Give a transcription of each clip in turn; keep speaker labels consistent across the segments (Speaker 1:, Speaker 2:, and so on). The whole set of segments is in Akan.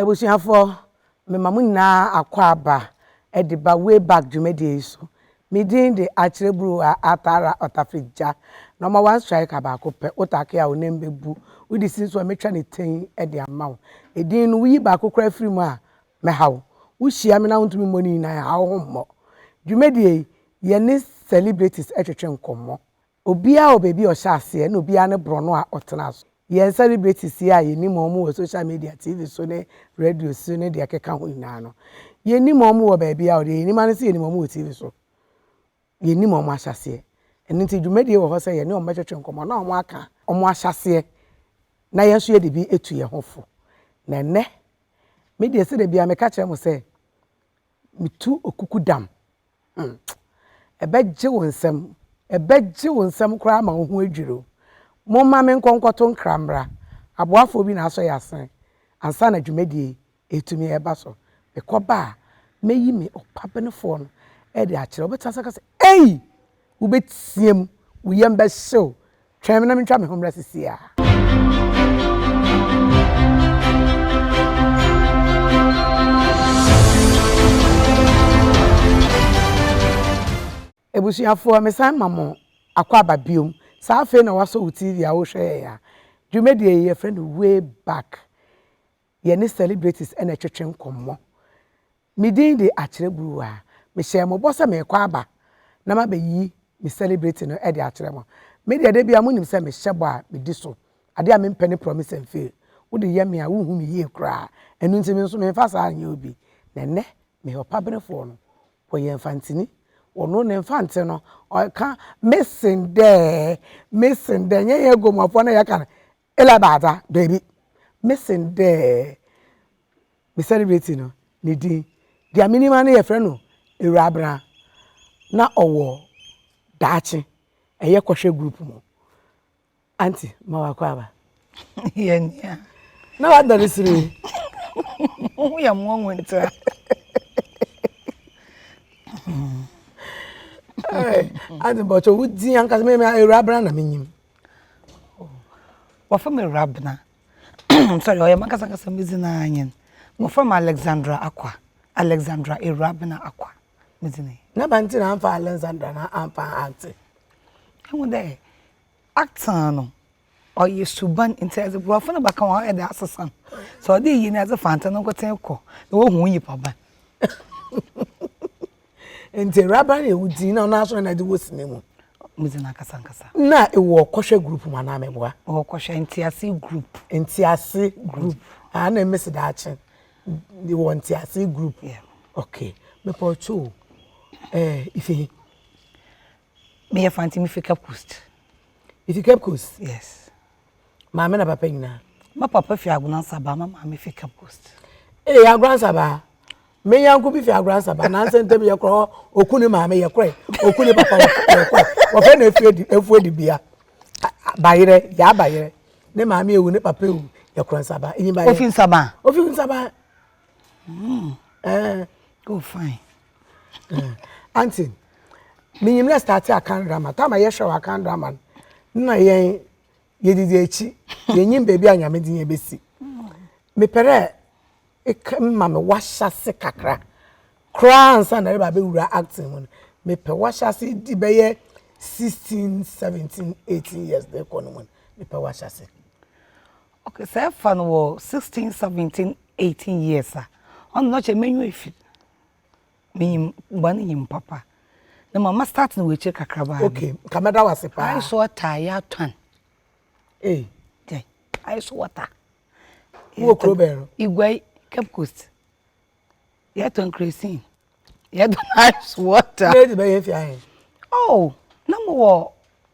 Speaker 1: Abusuafoɔ, mema mo nyinaa akwaaba de ba Way Back dwumadie yi so. Me din de Akyerɛburuwa Atara Ɔtafegya. Nɔma one striker baako pɛ, wo take a wo nan bɛbu, wo de si so a mɛtwa no tinn de ama wo. Edin no, woyi baako koraa firi mu a, mɛha wo. Wohyia me na wontumi mmɔ ne nyinaa a, ha wo ho mmɔ. Dwumadie yi, yɛne celebrities twetwe nkɔmmɔ. Obiara wɔ baabi a ɔhyɛ aseɛ na obiara ne borɔno a ɔtena so. Yɛn celebrities yi a yɛnim wɔn wɔ social media, TV so ne radio so ne deɛ ɛkeka ho nyinaa no, yɛnim wɔn wɔ baabiara o, deɛ yɛnim ara ne sɛ yɛnim wɔn wɔ TV so. Yɛnim wɔn ahyɛaseɛ. Ɛno nti dwumadie wɔ hɔ sɛ yɛne wɔn bɛtwetwe nkɔmmɔ na wɔaka wɔn ahyɛaseɛ na yɛn nso yɛde bi atu yɛn ho fo. Na ɛnnɛ, me deɛ sɛdeɛ biara meka kyerɛ mo sɛ, metu okuku dam. hmm, ɛbɛgye wo nsam, ɛbɛgye wo nsam koraa ma wo ho adwiri o. Momma me nkɔ nkɔto nkra mmra, aboafoɔ bi na asɔ yɛ asen ansa na dwumadie yi ɛtumi ɛba so. Mekɔba a, mɛyi me ɔpabenefoɔ no de akyerɛ, wobɛtena sɛ ka sɛ, ei! Wobɛteam, wo yam bɛhyew. Twɛn me na mentwa me ho mmra seesei ara. Abusuafoɔ, mesan ma mo akwaaba biom. Saa afei na woasɔ wo TV a worehwɛ yɛn a. Dwumadie yi, yɛfrɛ no Way Back. yɛne celebrities na ɛtwetwe nkɔmmɔ. Me din de Akyerɛ Guruwa. Mehyɛɛ mo bɔ sɛ merekɔ aba na mabɛyi me celebrity no de akyerɛ mo. Me deɛ da biara monim sɛ mehyɛ bɔ a medi so. Adeɛ a mempɛ ne promise and fail. Wode yɛ me a wonhu me yie koraa. Ɛno nti me nso memfa saa nyɛ obi. Na ɛnnɛ meyɛ ɔpaberefoɔ no. Wɔyɛ Mfantini. Ɔno ne Mfante no ɔka Missing dɛ, missing dɛ. Ɛnyɛ yɛn Aguamuafoɔ na yɛka no. Eli baa dza beebi mesen dɛ me celebrity no ne dzin dza minyim ara nye yɛfrɛ no Ewurabena na ɔwɔ daakye ɛyɛ kɔhwɛ group mu Aunty ma wakɔ aba yɛ nua
Speaker 2: na wadɔ
Speaker 1: ne sere wo
Speaker 2: ho yɛ mmoa ntra
Speaker 1: Aunty mpɔkyɛ wo dzin ankasa me Ewurabena na minyim. Oh,
Speaker 2: wɔfrɛ me Rabena, I'm sorry, ɔyɛ m'ankasa ankasa me dzin ara nye no. Wɔfrɛ me Alexandra Akwa, Alexandra Ewurabena Akwa me dzin ye. N'aban ntsi na ammfa
Speaker 1: Alexandra no ammfa anntse? Ehu dɛ
Speaker 2: Acton no ɔyɛ suban ntsi yɛdze Borɔfo no bɛka ho a ɔyɛ dɛ asesa no. Sɛ wɔdze iyi na wɔdze Fantse no nkotsee kɔ na wohu wo nyimpaban.
Speaker 1: nti awuraba no yɛ wo din na ɔno asɔre na de wɔ sini mu mudzi na nkasa
Speaker 2: nkasa na ewɔ
Speaker 1: kɔhwɛ group mu anaa meboa ɔwɔ kɔhwɛ ntiase
Speaker 2: group ntiase group aa na
Speaker 1: mmesi daakye ewɔ ntiase group okay
Speaker 2: mepɛ
Speaker 1: ɔtwo eh, ife
Speaker 2: meyɛ fanti mi fi cape coast ifi cape coast yes Maame na papa
Speaker 1: nyinaa. Ma papa fi
Speaker 2: Agonansabaa, ma maame fi Cape Coast. Ee eh, Agonansabaa.
Speaker 1: Me yanko bi fi Agonansabaa, nansa ntam yɛ korɔ hɔ, oku ne maame yɛ korɛ, oku ne papa yɛ korɛ. Wɔfɛ na efu edi efu edi bia. Bayerɛ, yaa bayerɛ. Ne maame ewu, ne papa ewu, yɛ korɔ nsabaa. Enyi bayerɛ. Ofi nsabaa. Ofi
Speaker 2: nsabaa.
Speaker 1: Mm. Eh. Oh fine. Aunty, menyim na startee Akan drama. Time a yɛhwɛ wɔ Akan drama no, na yɛn yɛdidi akyi, yɛnyim baabi a Nyame de yɛn bɛsi. Mepɛ dɛ eka ma me w'ahyɛse kakra koraa ansa na yɛreba abɛwura acting mu no. Mepɛ w'ahyɛse di bɛyɛ sixteen, seventeen, eighteen years de kɔ no mu no, mepɛ w'ahyɛse. Okay,
Speaker 2: sɛ ɛfa no wɔ sixteen, seventeen, eighteen years a, ɔno na ɔkyɛ menyu efi. Minyim bɔn nyim papa. Na ma ma start no wɔ ekyir kakrabaa bi. Okay, nka mɛda wo ase
Speaker 1: paa. Ice water yɛ atɔn.
Speaker 2: Ei.
Speaker 1: Dɛ
Speaker 2: ice water. Wowɔ
Speaker 1: kuro bɛn no? Iguai, Cape
Speaker 2: Coast. Yɛtɔn kerosene. Yɛtɔn ice water. Wei de bɛyɛ fi ahe?
Speaker 1: Oh,
Speaker 2: na mowɔ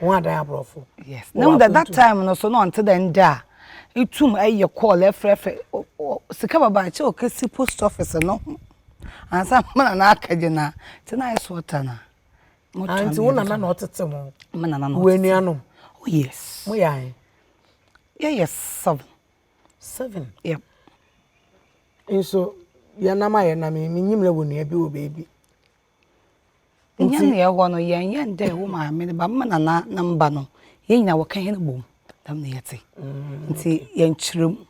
Speaker 2: wɔn adan
Speaker 1: aborɔfo yes na wɔn that
Speaker 2: time no so na ɔnte dɛ ndɛ a etum ɛyɛ call ɛfrɛfrɛ sika baba akyɛ ɔkɛsi post office no ho ansa mena na akɛgye na te na ayɛ so ɔta na anti
Speaker 1: wo nana na ɔtete mo me nana na ɔtete anuanom oh yes
Speaker 2: mo yɛ ahe yɛyɛ seven seven
Speaker 1: yep nso yɛnam a yɛnam menyim na wɔ nua bi wɔ baabi
Speaker 2: Nti ne yɛwɔ no yɛnyɛ ndɛ wo maame ne ba me nana ne mba no yɛn nyinaa wɔka hɛn bɔ mu dɛm na yɛtse nti yɛnkyerɛ mu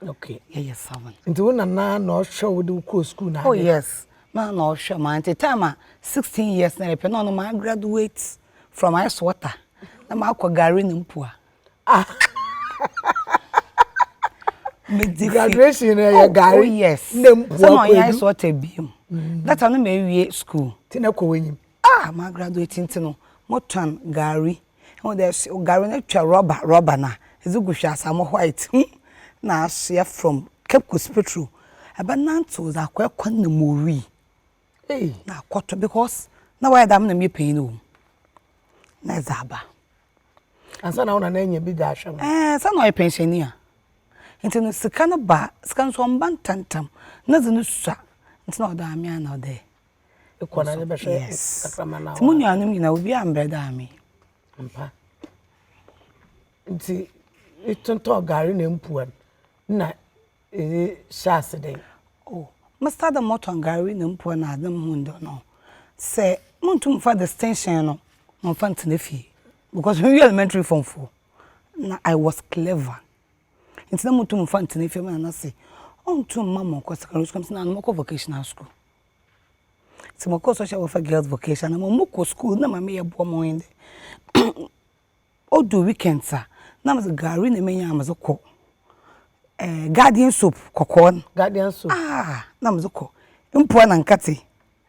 Speaker 2: okay
Speaker 1: yɛyɛ seven.
Speaker 2: Nti wo nana na
Speaker 1: ɔhwɛ wo de wo kɔɔ sukuu na ade. Oh yes na
Speaker 2: na ɔhwɛ ma nti time a sixteen years na yɛpɛ na ɔno ma graduate from ice water na makɔ gari ne mpua. Ah.
Speaker 1: Medi graduation na yɛ oh, gari. Oh yes. Na mpo
Speaker 2: akɔ. Sɛ ɔyɛ sɔ tɛ biem. Mm. That time na ewie school. Ti na kɔ wɛnyim.
Speaker 1: Ah, ma graduate
Speaker 2: nti no, mo tɔn gari. Ɛwɔ dɛ gari na twa rɔba rɔba na. Ɛdze gu hwɛ asa mo white. Hmm. Na asoɛ from Cape Coast Petro. Ɛbɛ nanto dza akɔ ɛkɔ na mo wi. ei na akɔtɔ because na wayɛ dɛm na meyɛ panyin wɔ mu na ɛdze aba. Ansa
Speaker 1: na wo nana enya bi dze ahwɛ no. Ɛɛ sɛ na ɔyɛ pɛnhyɛnyi
Speaker 2: a ntsi no sika no ba a sika no so ɔmmba ntsɛntsɛm na dze no sua ntsi na ɔwɔ dɛ ɔama me a na ɔwɔ dɛ ekɔ na
Speaker 1: ebɛhwɛ kakrama no a. Yes ntsi mo nuanom nyina obiara
Speaker 2: mmbrɛ dɛ ame. Ampa
Speaker 1: ntsi etontɔn gari na mpuwa no nna. edze hyɛ ase dɛn? Oh, me
Speaker 2: start dɛ motɔn gari na mpuwa na adze na muhun dɛ no, sɛ munntum mmfa distinction no mmfa nntsena fie because me wie elementary form four na I was clever ntsi na munntum mmfa nntsena fie. Nna me nana se onntum mma mo nnkɔ secondary school, mese nana no mɔkɔ vocational school. Ntsi mokɔr social welfare girls vocational na mokɔ school na ma meyɛ boa ma ɔnye dɛ odu weekends a na medze gari na menya a medze kɔ, ɛɛ guardian soap kɔkɔɔ no, guardian soap ah
Speaker 1: na medze kɔ,
Speaker 2: mpuwa na nkatse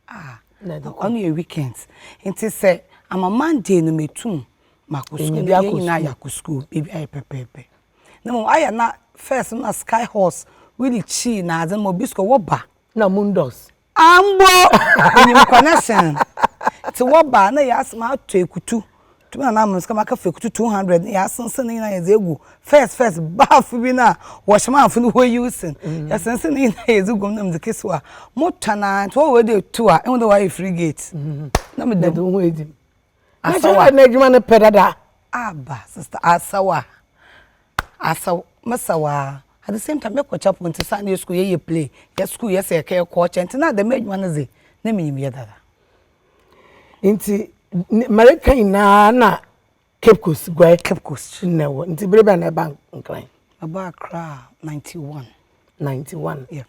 Speaker 2: ah ɔno yɛ weekends ntsi sɛ ama Monday no metum makɔ skuul na hɛn nyina yɛakɔ skuul beebi ayɛ pɛpɛɛpɛ. Na mbom ayɛ a na first no na sky horse, wheelie kyii nadze no ma obi skuul a wɔba na mundos
Speaker 1: Ambo!
Speaker 2: Onyim kwan asen. Ntsi wɔba a nna yɛas matɔ ekutu, tum na na mosika maka fa ekutu two hundred na yɛasensen ne nyina yɛdze egu first first baafo bi no a wɔhyɛ m'awofo no hɔ usin. Yɛsensen ne nyina yɛdze gu mu na medze kesi hɔ a motɔn a ntsi wɔweɔn dɛ etu a ehu dɛ wɔayɛ frigate na meda mu.
Speaker 1: Asawa. N'adwuma n'adwuma no pɛ dada. Aba sister
Speaker 2: Asawa. Asawa masawa. At the same time me kɔkya po nti saa na yɛ school yɛ yɛ play yɛ school yɛ sɛ yɛkɛ kɔ ɔkyɛ nti na dɛm adwuma no dze na minyim yɛ dada.
Speaker 1: Nti mɛreka nyinaa na Cape Coast guai. Cape Coast. Na ɛwɔ
Speaker 2: nti bere bɛn na
Speaker 1: ɛba Nkran. Ɛba Accra
Speaker 2: ninety one. Ninety one. Yeah.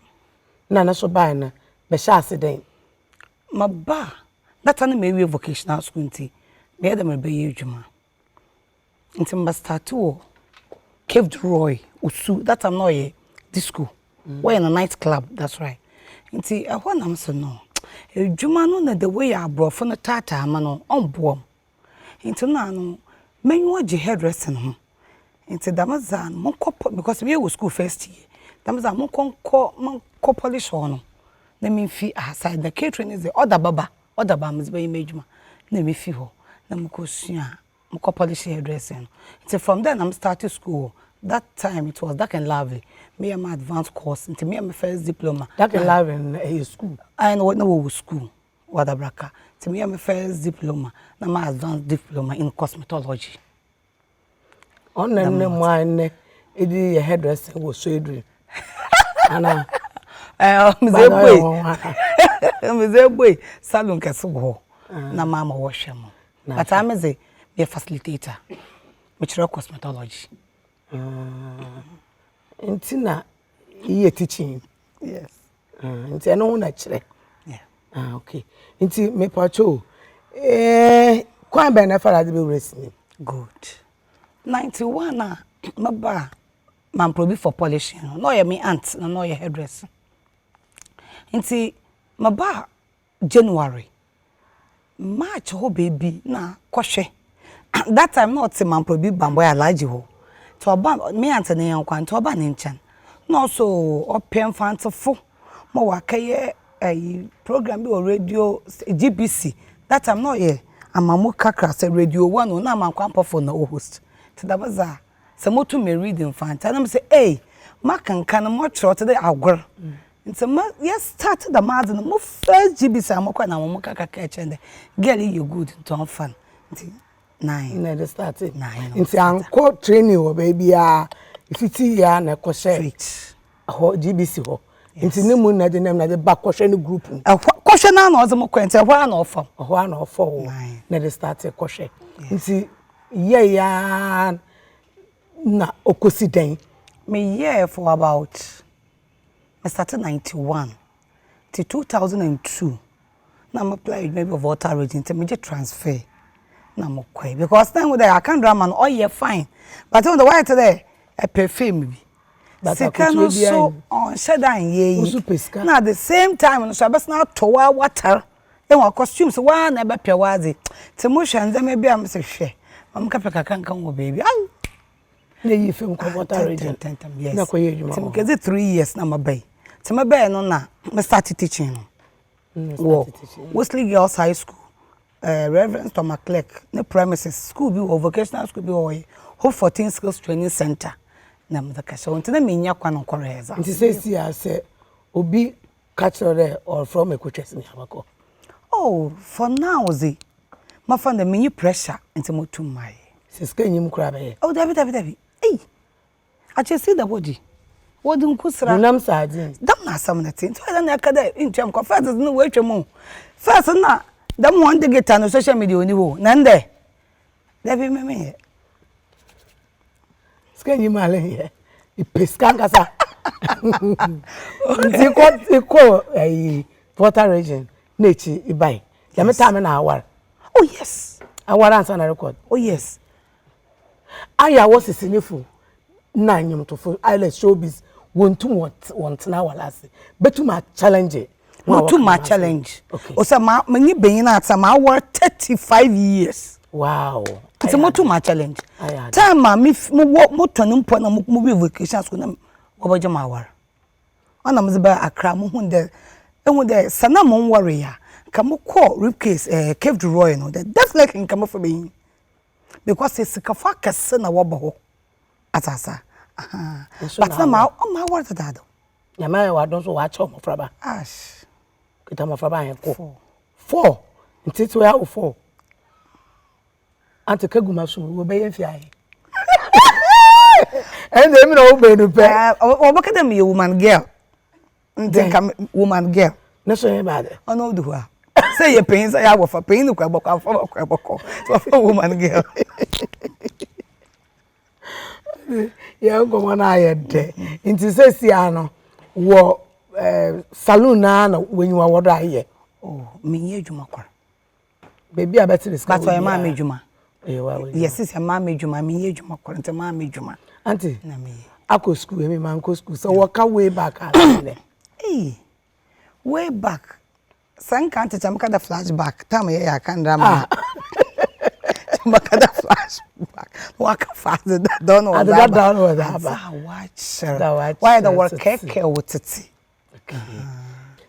Speaker 1: Na ne so baa no bɛhyɛ ase dɛn. Maba
Speaker 2: a, data no mawie vocational school nti meyɛ dɛ merebɛyɛ edwuma. Ntsi meba starte wɔ Cape de Roy, Osu, that time na ɔyɛ disco, wɔyɛ no night club that's right. Ntsi ɛhɔ na mese no edwuma no na the way abrɔfo no taataa me no ɔmmboa m'. ntsi nna ano m'enyiwa gye hair dressing ho ntsi dɛm dza a monkɔ pɔ because me wɔ skuul first year dɛm dza monkɔ nkɔ monkɔ polish hɔ no na memfi asaid na catering ne dze ɔda bɛ ba ɔda bɛ ba a medze bɛyɛ m'edwuma nna mifi hɔ na mokɔ sua mokɔ polish hair dressing no ntsi from dɛ na me start skuul wɔ dat taim it was dark and lovely meyɛ m'advance course ntsi meyɛ me first diploma. Dark and lovely no na
Speaker 1: ɛyɛ skuul? Aane na wɔwɔ
Speaker 2: skuul. Wadabraka nti meyɛ me first diploma na ma advance diploma in cosmetology.
Speaker 1: Ɔna nnɛ mo a nnɛ ɛdi yɛ hairdresser wɔ Sweden anaa? Medze ebue
Speaker 2: medze ebue salon kɛse wɔ hɔ na ma ma wɔhwɛ mo but ame dze meyɛ facilitator mekyerɛ cosmetology.
Speaker 1: Ah, nti na yɛ teaching. Yes.
Speaker 2: Ah, nti ɛno
Speaker 1: ho na kyerɛ. Yeah. Ah, okay.
Speaker 2: Nti
Speaker 1: mepatwo o. Eh, kwan bɛn na ɛfa na ade bɛwura sini? Good.
Speaker 2: 91 a maba a mamprɔbi for polishing no, na ɔyɛ me aunt na na ɔyɛ hairdresser. Nti maba a January, March hɔ baabi na kɔhwɛ. That time na ɔtse Mampɔbi Bambɔe Alhaji hɔ. Ntsi ɔba, me na anntse ne nyɛnko a, ntsi ɔba ne nkyɛn. Nna ɔso ɔpɛ Mfantsefo ma ɔakɛyɛ ayi programme bi wɔ radio sta GBC. That time na ɔyɛ Amamu Kakra sɛ Radio One o, nna Amankwa Ampɔfoɔ na ɔhost. Ntsi dɛm dze a. sɛ moto me read Mfantse a na mese ei makenkan mokyerɛw tse dɛ agor ntsi ma yɛ start dɛm adze no mo first GB saa mokɔr na hɔn kaaka kaa kyerɛɛ me dɛ girl yi yɛ good ntsi ɔmfa no ntsi
Speaker 1: naaye
Speaker 2: na
Speaker 1: yɛde startee naaye na ntsi annkɔ training wɔ beebiara fitsi yie a na ɛkɔhyɛɛ fridge. Ɛhɔ GBC hɔ. Nti ne mu na de nam na de ba kɔhwɛ ne group mu. Ɛhɔ kɔhwɛ na na ɔdze
Speaker 2: mo kɔ nti ɛhɔ ara na ɔfa wo. Ɛhɔ ara na ɔfa wo
Speaker 1: na de start kɔhwɛ. Nti yɛe ara na ɔkɔsi dɛn? Me yɛɛ
Speaker 2: for about me starte ninety one ti two thousand and two. na me apply adwuma bi wɔ volta region nti megye transfer na me kɔe because na ehu dɛ akan drama no ɔyɛ fine but ehu dɛ wayɛ te dɛ ɛpɛ fame bi sika no so ɔnhyɛ da nyɛ yi na the same time no so abɛsan atɔ wo awatar ehu a costume so waa na ɛbɛpɛ w'adze nti mo hwɛ ndzɛma bi a mese hwɛ ma me kɛpɛ kakra nka ho wɔ beebi ai na eyi
Speaker 1: fam kɔ volta region na kɔyɛ adwuma
Speaker 2: nti mekedzi
Speaker 1: three years
Speaker 2: na maba yi nti mebɛɛ no na me start teaching no. wɔ Wesley Girls High School, eh, Rev. Thomas Clerk ne premises, school bi wɔ vocational school bi wɔ hɔ yi, Hope for Teen Skills Training Center na medze kɛhyɛ hɔ nti na minnya kwan nnkɔhwɛɛ dza. Nti sesei a sɛ
Speaker 1: obi ka kyerɛ dɛ ɔrefrɛ wo ma ekotwa sini a, bɔkɔ? Oh,
Speaker 2: for now dze, mɛfa no dɛ minnyi pressure ntsi motum mayɛ. Sɛ sika nnyi mu koraa
Speaker 1: a, bɛyɛ? Oh, dabi dabi dabi,
Speaker 2: ei! Akyɛ sii dɛ wɔdze wɔdze nku sera. Honam sɛ adze. Dɛm
Speaker 1: na asɛm no tse.
Speaker 2: Ntsi ɔyɛ dɛn na yɛka dɛ inntua me kɔ? First dze no woetwa mu o, first nna dɛm hɔn digital no social media onnyi hɔ o, na ndɛ, dabi emi mennyɛ.
Speaker 1: Sika nnyi mu a leh yɛ, epɛ sika ankasa. Ntsi ekɔ ekɔ ayi volta region na ekyir ebae, dɛm tam no na awar. Oh yes.
Speaker 2: Awar ansaana erokɔ.
Speaker 1: Oh yes. Ayɛ a wɔsese ne fo na nnwontofo island showbiz wonntum wɔntsena awar ase betum a challenge Motum a
Speaker 2: challenge osian ma menye banyin atsena m'awar thirty five years wow
Speaker 1: ntsi motum a
Speaker 2: challenge time a me mowɔ motɔn mpo na mobue vacation school na wɔbɛgye me awar ɔna medze baa Accra muhun dɛ ehu dɛ sɛ na monnwaree a nka mokɔɔ Rip Case ɛɛ Cape du Roy no dɛ definitely nka mɛfa banyin. because esikafo akɛse na wɔba hɔ atse ase ahaa but na ma ɔma awar dedaado. Nyame ayɛ w'adom so
Speaker 1: w'akyɛ mmɔfraba. Ash.
Speaker 2: Kita mmɔfraba
Speaker 1: ahɛ kɔ. Four. Four. Ntete wɔ awo four. Ante kegu ma so wɔ bɛyɛ mfi ahɛ. Ɛnna emi na wo bɛnu pɛ. Wɔbɛka dɛ meyɛ
Speaker 2: woman girl. nti nka woman girl ne so yɛ baade
Speaker 1: ɔno ɔdu hɔ a
Speaker 2: sɛ yɛ panyin sɛ yɛ abɔfra panyin no kura bɔkɔ afɔ bɔkɔ bɔkɔ sɛ ɔfɔ woman girl
Speaker 1: yɛ nkɔmɔ no ayɛ dɛ nti sɛ si ano wɔ ɛɛ eh, saloon naa na wɔnyiwa wɔ do ayɛ. o oh, menyɛ
Speaker 2: adwuma kora baabi
Speaker 1: a bɛte ne sika wɔ maa me adwuma
Speaker 2: yɛse sɛ maa me adwuma meyɛ adwuma kɔrɔ nti maa me adwuma ante
Speaker 1: akɔ
Speaker 2: sukuu ɛmi maa
Speaker 1: nkɔ sukuu sɛ wɔka way back a sɛnɛ
Speaker 2: way back sɛ nka nte kyɛ meka da flash back tam yɛ yɛ aka ndra ma meka da flash back waka fa de da dɔn wɔ da ba adeda dɔn wɔ da ba
Speaker 1: wakyerɛ
Speaker 2: wayɛ da wɔkɛkɛ wɔ tete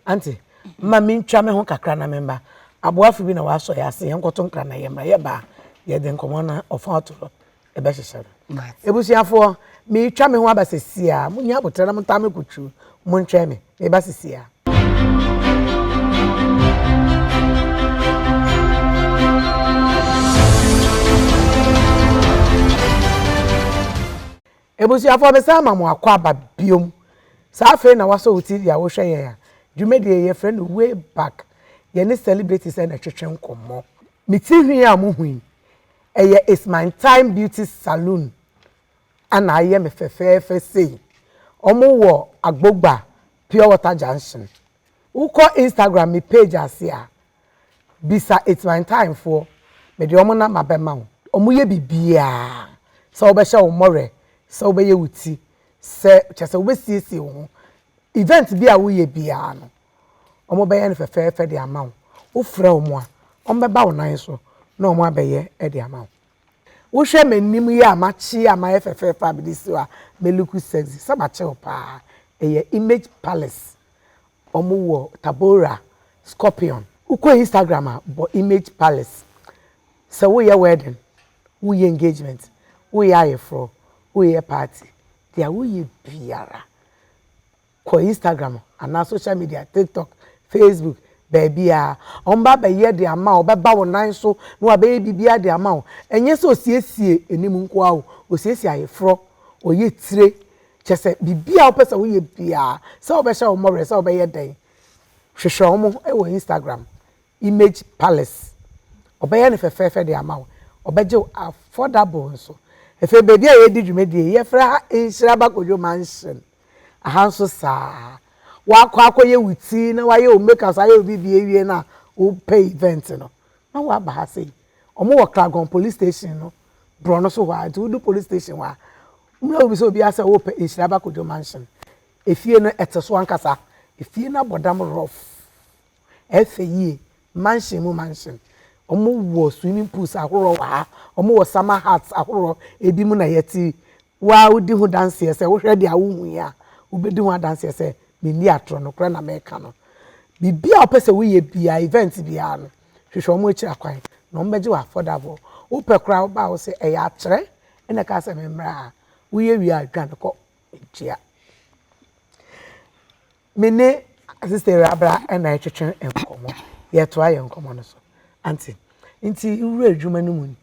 Speaker 1: Ante, ma mentwa me ho kakra na memba. Aboafo bi na wɔasɔ yɛ ase, yɛnkɔto nkra na yɛmmra. Yɛba a, yɛde nkɔmmɔ no ɔfa ɔto hɔ ɛbɛhyehyɛ no. Abusuafoɔ, meretwa me ho aba sesie a, monyɛ aboterɛ na montaa me kuturu, montwɛn me, meba sesie a. Abusuafoɔ me san ma mo akwaaba biom Sɛ afei na wasɔ wo TV a wohwɛ yɛn a Dwumadie yi yɛfrɛ no Way Back Yɛne celebrities na ɛtwetwe nkɔmmɔ. Me ti hwi a mo hu yi ɛyɛ It's My Time Beauty Saloon na ayɛ me fɛfɛɛfɛ sei Ɔmo wɔ Agbogba Pure Water Junction Wo kɔ Instagram me page ase a Bisa Etsmantaemfoɔ, mede wɔn nam abɛma wo. Wɔyɛ biribiara, sɛ wɔbɛhyɛ wo mmɔwerɛ, sɛ wobɛyɛ wo ti, sɛ, kyerɛ sɛ wobɛsiesie wo ho. Event bi a woyɛ biara no, wɔbɛyɛ no fɛfɛɛfɛ de ama wo. Wofrɛ wɔn a, wɔbɛba wo nan so na wɔabɛyɛ de ama wo. Wohwɛ m'anim yi a makye yi a mayɛ fɛfɛɛfɛ a mede si hɔ a, me look sexy, sɛ makye wo paa. Ɛyɛ Image Palace Ɔmo wɔ Tabora scorpion. Wokɔ Instagram a bɔ image palace sɛ woyɛ wedding, woyɛ engagement, woyɛ ayeforɔ, woyɛ party deɛ woyɛ biara kɔ Instagram anaa social media TikTok, Facebook baabiara ɔmo ba bɛyɛ de ama wo ɔbɛba wo nan so na wabɛyɛ biribiara de ama wo ɛnyɛ sɛ osiesie anim nkoaa o osiesie ayeforɔ, ɔyɛ tire, Kyerɛ sɛ, biribiara a wopɛ sɛ woyɛ biara, sɛ wɔbɛhyɛ wɔn werɛ, sɛ wɔbɛyɛ dɛn, hwehwɛ wɔn wɔ Instagram, Image Palace. Wɔbɛyɛ no fɛfɛɛfɛ de ama wo. Wɔbɛgye wo affordable nso. Afei baabi a yɛredi dwumadi yi, yɛfrɛ ha Nhyira Bakodwo Mansion. Aha nso saa ara. Woakɔ akɔyɛ wo ti na woayɛ wo make up, ayɛ wo biribiara awie no a, wopɛ event no, na woaba ha sei. ɔmo wɔ Kragon police station no borɔno so hɔ a nti wodu police station hɔ a ɔmo na wobisa obiara sɛ wopɛ Nhyira Bakodwo mansion efie no ɛte so ankasa efie no abɔ dam rough ɛfɛ yie mansion mu mansion ɔmo wɔ swimming pools ahoroɔ wɔ ha ɔmo wɔ summer huts ahoroɔ ebi mu na yɛte Wo ara wudi ho danseɛ sɛ wohwɛ deɛ a wohui a, wobɛdi ho adanseɛ sɛ menni atorɔ, nokorɛ na mereka no. Biribiara a wopɛ sɛ woyɛ biara, event biara no, hwehwɛ wɔn akyiri akwan na wɔbɛgye wo affordable. Wopɛ koraa a woba a wose ɛyɛ akyerɛ na ɛkaa sɛ memmra a, woyɛ wie a dwane kɔ, ntua. Me ne Sister Awurabra na ɛretwetwe nkɔmmɔ. Yɛretoa yɛn nkɔmmɔ no so. Ante? Nti wura adwuma no mu no,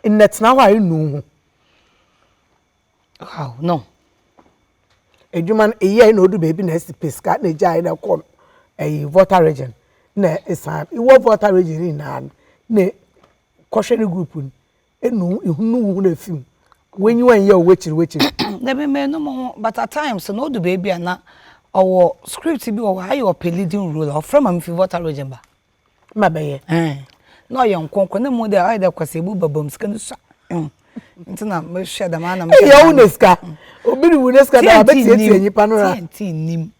Speaker 1: Nnɛtena hɔ a nnuu ho.
Speaker 2: Wow, no.
Speaker 1: Adwuma no eyɛe na odu baabi na asi pɛ sika na egyae na ɛkɔ ɛyi Volta region na esan wɔ Volta region ne nyinaa no na kɔhwɛ ne group no enu ehunu hu na efi mu w'enyi wɔn yɛ w'ekyir w'ekyir. Na bi mɛ no
Speaker 2: mo ho but at times na odu baabi a na ɔwɔ script bi wɔ hɔ ayɛ ɔpɛ leading role a ɔfrɛ ma mefi Volta region ba. ma bɛyɛ
Speaker 1: ɛn na
Speaker 2: ɔyɛ nkrɔnkrɔn na mmom ayɛ dɛ kwasea ebu ba bam sika no sua ɛn nti na me hwɛ dɛm ara na me hwɛ ɛyɛ wo na sika
Speaker 1: obi de wu ne sika da abɛtiatia nipa no ra tiɛnti nim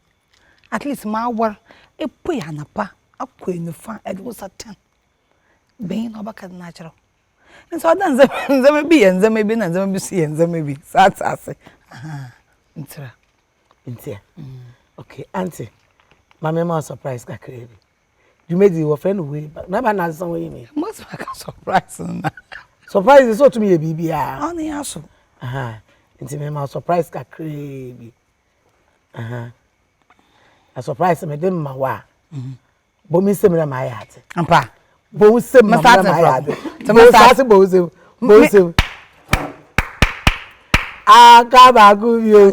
Speaker 2: at least m'awar epuei anapa akɔ enufa ɛde wo nsa ten bɛn na ɔbɛka de no akyerɛ wo nti ɔda ndzɛmba bi yɛ ndzɛmba bi na ndzɛmba bi so yɛ ndzɛmba bi saa tse ase ahaa ntsira ntia
Speaker 1: okay aunty ma me ma wo surprise kakra bi. dwumadzi yi wɔfrɛ no way back na bɛn na adesɛn wɔyɛ ni. mo sɛ maka surprise
Speaker 2: na. surprise sɛ
Speaker 1: ɔtumi yɛ biribiara. ɔne yɛ aso.
Speaker 2: nti
Speaker 1: mema surprise kakraa bi na surprise mede ma wo a bɔ me nsɛm na maayɛ ate. mpa bɔ
Speaker 2: wo nsɛm
Speaker 1: na maayɛ ate. bɔ wo nsɛm bɔ wo nsɛm bɔ wo nsɛm. aka baako bio.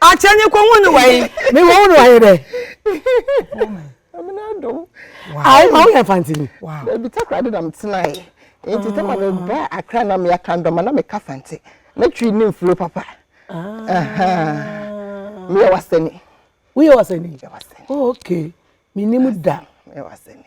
Speaker 3: Akyɛ nye kɔ hun
Speaker 2: wa yi. Mi wɔ hun wa yi dɛ.
Speaker 3: Ayi ma woyɛ
Speaker 1: fantini. Ebi takra de
Speaker 3: na metena yi. Nti sɛ ma meba akra na meaka ndɔma na meka fante. Na twi ne mfuro papa. Meyɛ wasani. Woyɛ wasani?
Speaker 1: Meyɛ wasani. Oh, okay. Menim da. Meyɛ wasani.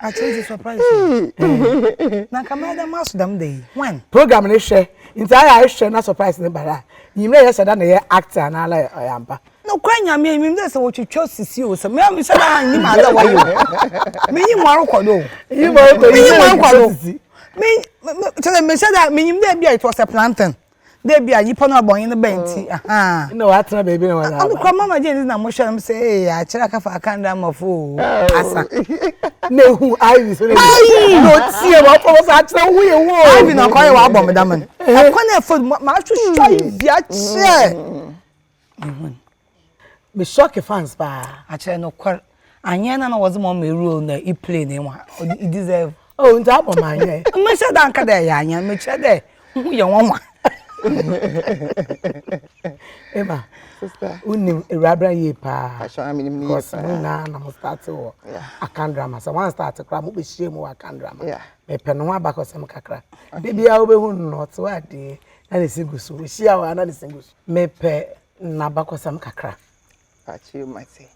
Speaker 2: akyɛ dze surprise o na nka mɛyɛ dɛ maso dɛm da yi when program ne hwɛ
Speaker 1: nti ayɛ a ehwɛ na surprise ne bara a nyim dɛ yɛhyɛ da na yɛ act anaa la ɔyɛ ampa nokora nyame
Speaker 2: mim dɛ sɛ wɔtwitwa sisi o sɛ mehyɛ da a nyim adɛ wɔyɛ o menyim mu arokɔ do menyim
Speaker 1: mu arokɔ do
Speaker 2: kyɛ sɛ mehyɛ da menyim dɛ bi a it was a plantain na ebi a nipa no abɔnye no bɛn nti ahaa. na watena
Speaker 1: baabi na wada. ano kura mama jane na mo
Speaker 2: hyɛ no sɛ ee akyerɛ akafa akanda amafo o asa. na ehu
Speaker 1: ivy so na ebi na otie ma ɔfɔ wɔsɛ akyerɛ wo yɛ wo. ivy na ɔkɔyɛ wɔ abɔ me
Speaker 2: dama no ɛkɔ na ɛfɔ ma ahwehwɛ ivy akyerɛ. me shock
Speaker 1: fans
Speaker 2: paa
Speaker 1: akyerɛ no
Speaker 2: kwar anyɛ na na wɔdze ma ɔma role na i play ne wa i deserve oh nti abɔ ma
Speaker 1: anyɛ mehyɛ da nka dɛ ɛyɛ
Speaker 2: anyɛ mekyerɛ dɛ ho yɛ nwanwa
Speaker 1: Emma, sister,
Speaker 3: unim Ewurabra
Speaker 1: yie paa. Asha mi nim yie paa.
Speaker 3: Mu na na mo
Speaker 1: start wɔ akan drama. Sɛ wɔn start kora mo bɛhyia mu wɔ akan drama. Mepɛ no ho
Speaker 3: abakɔsɛm
Speaker 1: kakra. De bia wobɛhu no na ɔte wɔ adeɛ na ne si gu so. Wohyia wɔ ana ne si gu so. Mepɛ n'abakɔsɛm kakra. Pakyɛw
Speaker 3: mate.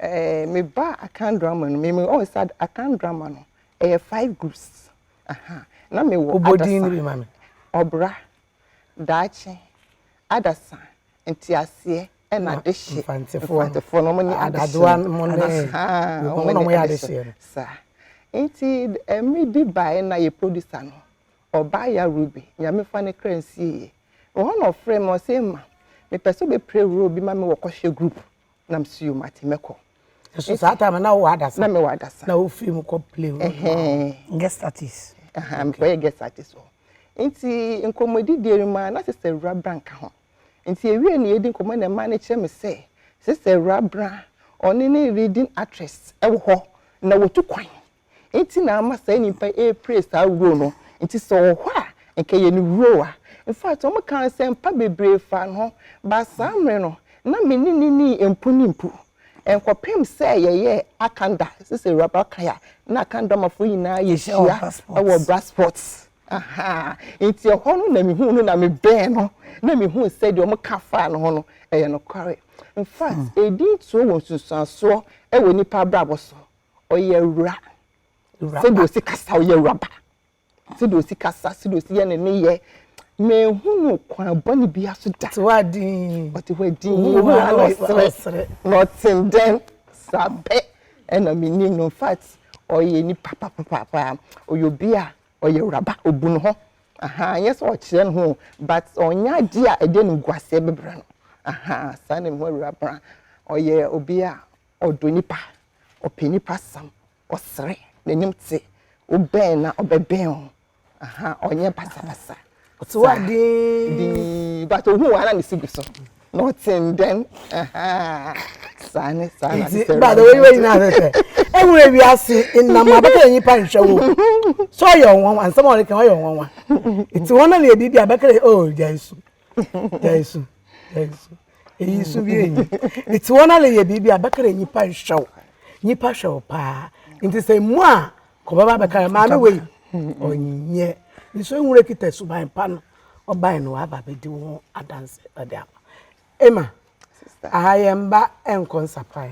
Speaker 3: Ɛɛ meba Akan drama no me me ɔwɔ sa Akan drama no ɛyɛ five groups. Aha. Na me wɔ adasa. Obodin no bi ma me.
Speaker 1: Ɔbra,
Speaker 3: daakye, adasa, nteaseɛ ɛna adehye. Mfantefoɔ. Mfantefoɔ no mo ne adehye. Adoa mo ne.
Speaker 1: Aha. Mo na mo yɛ adehye no. Saa.
Speaker 3: Nti ɛmɛ bi bae na yɛ producer no ɔbaa ya Ruby nyame fa ne kra nsie yɛ. Ɛhɔ na ɔfrɛɛ me, ɔse, Emma, mepɛ sɛ wobɛplay role bi ma me wɔ Kɔhwɛ Group. Na me se, Yo, mate, mɛkɔ. So saa time
Speaker 1: no na wowɔ Adasa? Na mewɔ Adasa. Na wofii
Speaker 3: mu kɔ play role
Speaker 1: ma wo? Ɛhɛɛ. Guest
Speaker 2: artist? Ahaa, mekɔyɛɛ guest
Speaker 3: artist wɔ hɔ. Nti nkɔmmɔdidie no mu ara, na Sista Awuraa Bra nka ho. Nti yɛwieeɛ no yɛredi nkɔmmɔ na mmaa no kyerɛ me sɛ, Sista Awuraa Bra, ɔne ne leading actress wɔ hɔ, na wɔtu kwan. nti na ama saa nnipa yi ɛreplay saa role no, nti sɛ ɔwɔ hɔ a nka ɛyɛ ne role a in fact wɔn ka nsɛmpa bebree faa ne ho but saa mmere no na me ne no nnii mpo ne mpo ɛnkɔpem sɛ yɛyɛɛ Akanda sisi Awuraba kan a na Akanda ɔmafoɔ nyinaa yɛ hyia wɔ Brassport ahaa nti ɛhɔ no na me huu no na me bɛn no na me huu sɛ deɛ wɔn ka faa ne ho no ɛyɛ nokware in fact ɛdi ntuo wɔ nsunsuansoɔ ɛwɔ nnipa abrabɔ so ɔyɛ awura sɛdeɛ ɔsi kasa ɔyɛ awuraba sɛdeɛ ɔsi kasa sɛdeɛ ɔsi yɛ ne ne yɛ mehu no kwan bɔne bi aso da ɔte hɔ adin ɔte hɔ
Speaker 1: adin
Speaker 3: ohu ha na ɔsere na ɔten dɛn saa pɛ ɛna menim no infact ɔyɛ nipa papapapa ɔyɛ obi a ɔyɛ awuraba ɔbu ne ho aha nyɛ sɛ ɔkyerɛ ne ho but ɔnyɛ adeɛ a ɛde animguaseɛ bɛbrɛ no aha saa na mehu awuraba ɔyɛ obi a ɔdɔ nnipa, ɔpɛ nnipa sam, ɔsrɛ, n'anim te, wobɛn no a ɔbɛbɛn wo, aha, ɔnyɛ basabasa. Ɔte hɔ
Speaker 1: dinn, but ohun wɔn a na
Speaker 3: ne si gu so, na ɔte ndɛn, aha, saa ne saa na ne sɛ.
Speaker 1: Bàdà wei wei nyinaa sɛ sɛ, ehun ewi ase nnam abɛka yɛn nipa nhwɛ wo, so ɔyɛ ɔnwanwa, nsɛm a ɔreka ɔyɛ ɔnwanwa, eti wɔn na na ebi bi abɛka yɛ, oh gya nsu. gyae su gyae su eyi su bi enyi nti wɔn ale yɛ biribi a bɛka dɛ nyipa nhwɛ wo nyipa hwɛ wo paa nti sɛ mu a kɔbɛba bɛka dɛ maame wei ɔnyɛ nso ehun kita suban pa no ɔbae no waba bɛdi wo ho adanse ɔde ama ema aha
Speaker 3: yɛn mba
Speaker 1: nkɔ nsapae.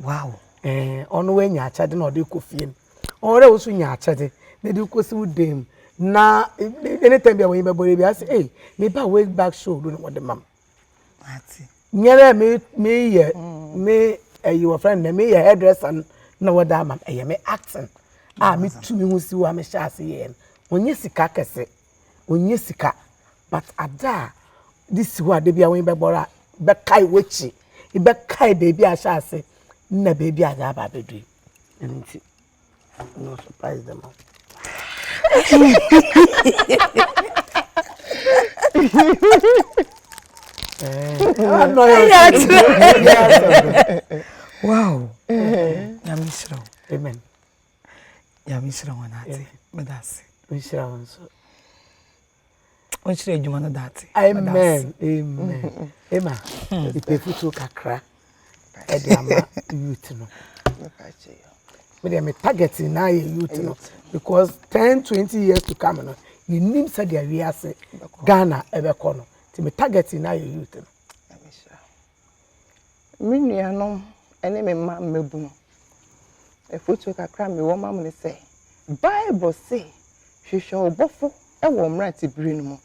Speaker 1: Wow ɛɛ
Speaker 2: ɔno wanya
Speaker 1: akyɛde na ɔde kɔ fie no ɔwɔ dɛ woso nya akyɛde na de kɔ si wo dan mu na anytime bi a wɔyi bɛbɔ ebi ase ee meba way back show do na wɔde mam
Speaker 2: nyɛ dɛ me
Speaker 1: me yɛ me ɛyi wɔ fɛn dɛ me yɛ hairdresser no na wɔde ama ɛyɛ me acting a me tu me ho si hɔ a me hyɛ ase yɛ no wɔnyɛ sika kɛse ɔnnya sika but ada a de si hɔ a dabi a w'ani bɛbɔ do a bɛkae w'akyi, bɛkae baabi a ahyɛ ase na baabi a aba abɛdu yi. Ɛno nti, no surprise them
Speaker 2: all. wow. Nyame hyira wo. Amen. Nyame nhyira wɔn ate. Meda ase. Nhyira wɔn
Speaker 1: nso.
Speaker 2: Nhyira adwuma no date. Amen.
Speaker 1: Amen. Emma, hmm. ipe futuo kakra ɛde ama youth no. Me deɛ me target na yɛ youth no because ten twenty years to come no yɛnim sɛdeɛ wiase Ghana ɛbɛkɔ no nti me target na yɛ youth no.
Speaker 3: Me nuanom ne me mma mmabunu, afotu kakra a mewɔ ma mo ne sɛ, Bible se, Hwehwɛ wo Bɔfo wɔ wo mmerantebere no mu.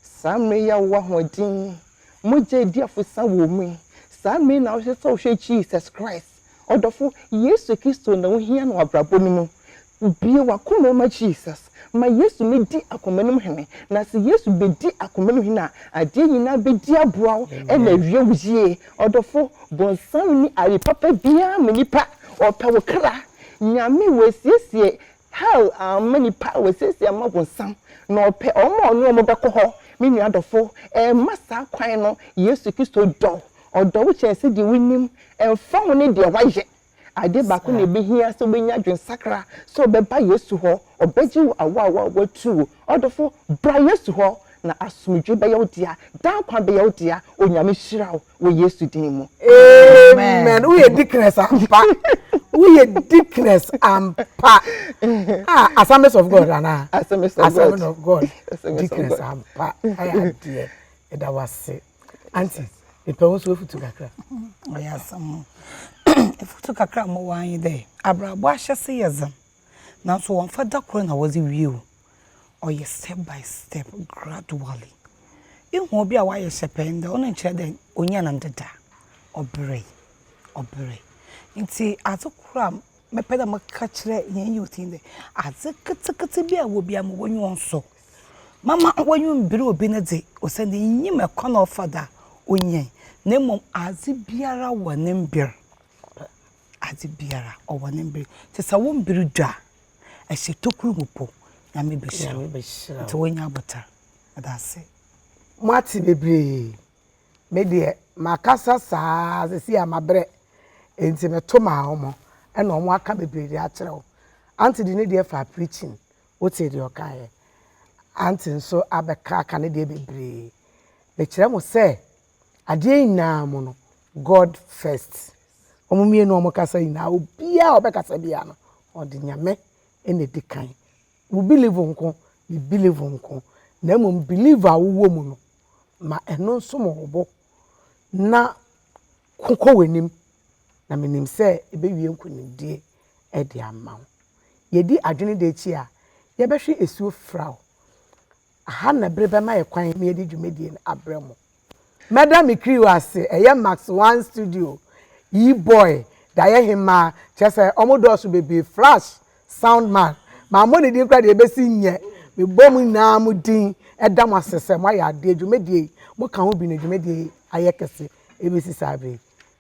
Speaker 3: Saa mmere yi a wowɔ ahoɔden yi, mogya a edi afusa wom yi, saa mmere yi na wosɛ sɛ wohwɛ Jesus Christ. Ɔdɔfo, Yesu Kristo na wohia no w'abrabɔ no mu. Bue w'akoma mu ma Jesus. Ma Yesu ne di akoma no mu hene. Na se Yesu bedi akoma mu hene a, adeɛ nyinaa bedi aboa wo na awie wo yie. Ɔdɔfo, bonsam nni aye papa biara ma nipa. Ɔpɛ wo kra. Nyame, wasiesie hell ama nipa, wasiesie ama bonsam. Na ɔpɛ wɔn a ɔne wɔn bɛkɔ hɔ. Me nua dɔfo, mma saa kwan no. Yesu Kristo dɔ Ɔdɔ wo kyɛn sɛdeɛ wonim. Ɛmfa ho ne deɛ woayɛ, adeɛ baako na ɛbɛhia sɛ wobɛnya adwensakra, sɛ wobɛba Yesu hɔ, ɔbɛgye wo awaawa a woatu. Ɔdɔfo, bra Yesu hɔ, na asomdwoe bɛyɛ wo dea, daa nkwa bɛyɛ wo dea. Onyame nhyira wo wɔ Yesu din mu. Amen
Speaker 1: wo yɛ deaconess ampa wo yɛ deaconess ampa ah assemblies of God ana assemblies of
Speaker 3: God
Speaker 1: deaconess ampa ayɛ adeɛ ɛda wase. Auntie, mepɛ wo nso wofutu kakra. Ɔyɛ asɛm o.
Speaker 2: Efutu kakra a mowɔ ara nye dɛ, abrabɔ ahyɛse yɛ dzen, naaso wɔmmfa da kor na wɔdze wie o. Ɔyɛ step by step, gradually. Ihu obi a ɔayɛ hyɛpɛɛ ndɛ, ɔno nnkyerɛ dɛ onyaa no ndɛ da. Ɔberee, ɔberee. Ntsi adze kor a mɛpɛ dɛ mɛka akyerɛ hɛn youth yi nye dɛ, adze ketseketse bi a ewɔ biara ma w'enyi nsɔ. Mamma woennwonbir obi no dze, osiandɛ innyim kwan a ɔfa do a onyae, na mbom adze biara wɔ ne mber. Adze biara ɔwɔ ne mber. Ntsi sɛ wo mber du a, hyɛ tokura mu mpo, Nyame behyira wo. Ntsi woennya abotar. Meda ase. Moate
Speaker 1: bebree. Me deɛ makasa saa ara sesei a mabrɛ nti meto maa wɔn na wɔn aka bebree de akyerɛ wo. Auntie de ne deɛ faa preaching Wotee deɛ ɔkaeɛ. Auntie nso abɛka aka ne deɛ bebree. Mekyerɛ mo sɛ, adeɛ nyinaa mu no, God first. Wɔn mmienu a wɔkasa nyinaa, obiara a ɔbɛkasa biara no, ɔde Nyame na ɛdi kan. Wo believe nko, me believe nko, na mmom believe a wowɔ mu no, ma ɛno nsom wo bo na kɔ w'anim, na menim sɛ ɛbɛwie nkonimdie. de ama wo. Yɛdi adwene da akyi a, yɛbɛhwe asuo firaw. Aha na bere bɛma yɛ kwan ma yɛde dwumadie no abrɛ mo. Mɛda me crew ase, ɛyɛ Max One Studio, Yboy, Dayɛhemmaa, kyerɛ sɛ wɔn dɔɔso bebree, Flash, Sound Man, mammɔ ne din koraa deɛ ɛbɛsi nyɛ. Mebɔ mo nyinaa mo din da mo ase sɛ moayɛ adeɛ, dwumadie yi, moka ho bi na dwumadie yi ayɛ kɛse ɛbɛsi saa berɛ yi.